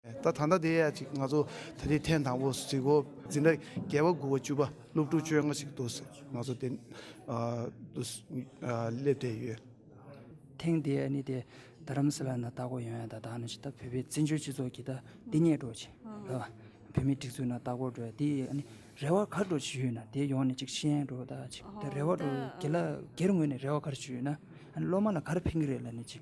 ད་ད་ལྟ་དེ་ཡ་ཅིག་ང་ཚོ་ད་དེ་ཐེངས་དང་པོ་ཟིག་གོ་འཛིན་གྲྭ་བརྒྱད་པ་དགུ་བ་བཅུ་པ་སློབ་ཕྲུག་བཅོ་ལྔ་ཞིག་འདུག་ང་ཚོ་དེ་སླེབས་བསྡད་ཡོད། ཐེངས་འདིའི་ནི་དེ་རྡ་རམ་ས་ལ་ན་ལྟག་སྐོར་ཡོང་ཡ་ད་ད་ནི་ད་བོད་པའི་བཙན་བྱོལ་སྤྱི་ཚོགས་ཀྱི་ད་འདི་ཉལ་འགྲོ་བྱེད་ད་བོད་མིའི་སྒྲིག་འཛུགས་ན་ལྟག་སྐོར་འགྲོ་ཡ་དེ་ཡི་ནི་རེ་བ་གར་འགྲོ་བྱེད་ཡོད་ན་དེ་ཡོང་ནི་ཅིག་ཤེས་ཡན་འགྲོ་ད་ཅིག་ད་རེ་བ་འགྲོ་དགེ་ལ་དགེར་ངོས་ནས་རེ་བ་གར་བྱེད་ཡོད་ན་ཨ་ནི་སློབ་མ་ལ་གར་ཕན་གྱི་རེད་ལ་ནི་ཅིག་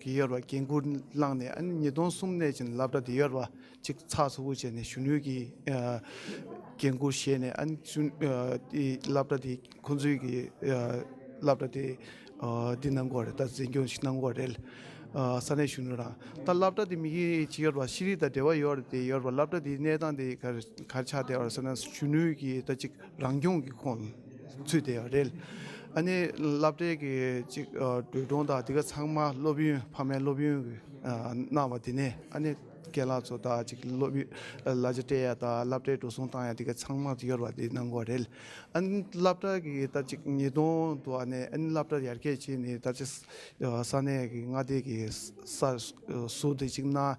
གི་གཡོར་བ་རྒྱན་གུར་བླངས་ནས་ཉིས་སྟོང་གསུམ་གནས་ཅན་ལབ་སྒྲ་དེ་གཡོར་བ་ཅིག་ཚགས་ཚུད་པོ་བྱས་ནས་གཞོན་ནུ་གི་རྒྱན་གུར་བཞེས་ནས་ལབ་སྒྲ་དེ་ཁོ་ཚོའི་གི་ལབ་སྒྲ་དེ་འདི་གནང་དགོས་རེད་ད་འཛིན་སྐྱོང་ཞིག་གནང་དགོས་རེད་ས་གནས་གཞོན་ནུ་རང་ད་ལབ་སྒྲ་དེ་མི་གི་ཅི་གཡོར་བ་ཤེས་རིག་དང་འབྲེལ་བ་ཡོད་རེད་དེ་གཡོར་བ་ལབ་སྒྲ་དེ་གནས་སྟངས་དེ་ག་ག་ཆགས་བསྡད་བ་རེད་ཟེར་ན་གཞོན་ནུ་གི་ད་ཅིག་རང་སྐྱོང་གི་ཁོངས་ཚུལ་དེ་རེད། ཨ་ནེ་བླ་བྲེ་གི་ཅིག་སྒྲོས་སྒྲོང་དང་དེ་ག་ཚང་མ་སློབ་ཡོན་ཕ་མའི་སློབ་ཡོན་གནང་བ་དེ་ནས་ཨ་ནེ་སྐལ་ལགས་ཚོ་དང་ཅིག་སློབ་ཡོན་ལ་ཅིག་སྤྲད་ཡ་དང་བླ་བྲེ་འགྲོ་སོང་བཏང་ཡ་དེ་ག་ཚང་མ་གཡོར་བ་དེ་གནང་གོ་རེད། ཨ་ནེ་བླ་བྲེ་གི་ད་ཅིག་ཉིས་སྟོང་དུ་ཨ་ནེ་ཨ་ནེ་བླ་བྲེ་ཡར་རྒྱས་བྱས་ནས་ད་ཅིག་ས་གནས་ཀྱི་མངའ་སྡེ་གི་སར་ཟུར་དེ་ཅིག་གནང།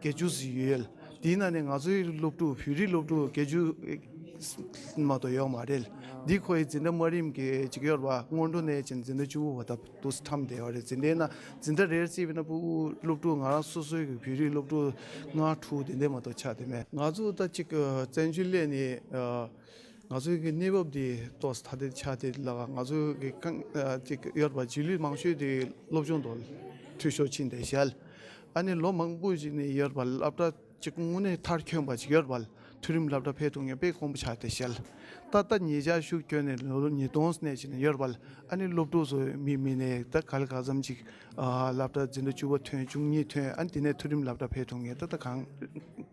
དགེ་བཅུ་ཟིག་ཡོད། དེའི་ནང་ནས་ང་ཚོའི་སློབ་ཕྲུག་བོད་རིགས་སློབ་ཕྲུག་དགེ་བཅུ་མ་གཏོགས་ཡོད་མ་རེད། འདི་ཁོ་ཡི་འཛིན་གྲྭ་དམའ་རིམ་གྱི་འཇིགས་ཡོར་བ་སྔོན་འགྲོ་ནས་ཅིང་འཛིན་གྲྭ་བཅུ་བོ་བ་དག་ཏུ་འཁྲམས་བསྡད་པ་རེད་འཛིན་གྲྭའི་ནང་འཛིན་གྲྭ་རེར་བརྩིས་པའི་ན་སྤུའུ་སློབ་ཕྲུག་ང་རང་སོ་སོའི་བོད་རིགས་སློབ་ཕྲུག་ལྔ་དྲུག་དེ་འདྲས་མ་གཏོགས་ཆགས་བསྡད་མེད། ང་ཚོ་ད་ཅིག་བཙན་བྱོལ་སླེབས་ནས་ང་ཚོའི་གི་གནས་བབ་དེ་གཏོགས་ཐ་དད་ཆགས་བསྡད་ལ་ང་ཚོའི་གི་ཁང་འཇིགས་ཡོར་བ་རྗེས་ལུས་མང་ཤོས་དེ་སློབ་སྦྱོང་དང་འཐུས་ཤོར་ཕྱིན་བསྡད་ཞལ། ཨ་ནེ་ལོ་མང་པོ་ཞིག་ནས་ཡོད་པ་སློབ་གྲྭ་གཅིག་དངོས་གནས་མཐར་ཁྱོན་པ་ཞིག་ཡོད་པ་དུས་རིམ་སློབ་གྲྭ་འཕེལ་གཏོང་ངེས་པས་གོང་བུ་ཆགས་ཏེ་བཤད། ད་ལྟ་ཉེ་ཆར་ཤུགས་ཁྱོན་ནས་ལོ་ཉིས་སྟོང་སྣེ་ཞིག་ནས་ཡོད་པ་ཨ་ནེ་སློབ་ཕྲུག་ཚོས་མི་མི་ནས་ད་ག་ལ་ག་ཙམ་ཅིག་སློབ་གྲྭ་འཛིན་གྲྭ་བཅུ་བ་ཐོན་བཅུ་གཉིས་ཐོན་ཨ་ནེ་དེ་ནས་མཐོ་རིམ་སློབ་གྲྭ་འཕེལ་གཏོང་ངེས་ད་ལྟ་གང།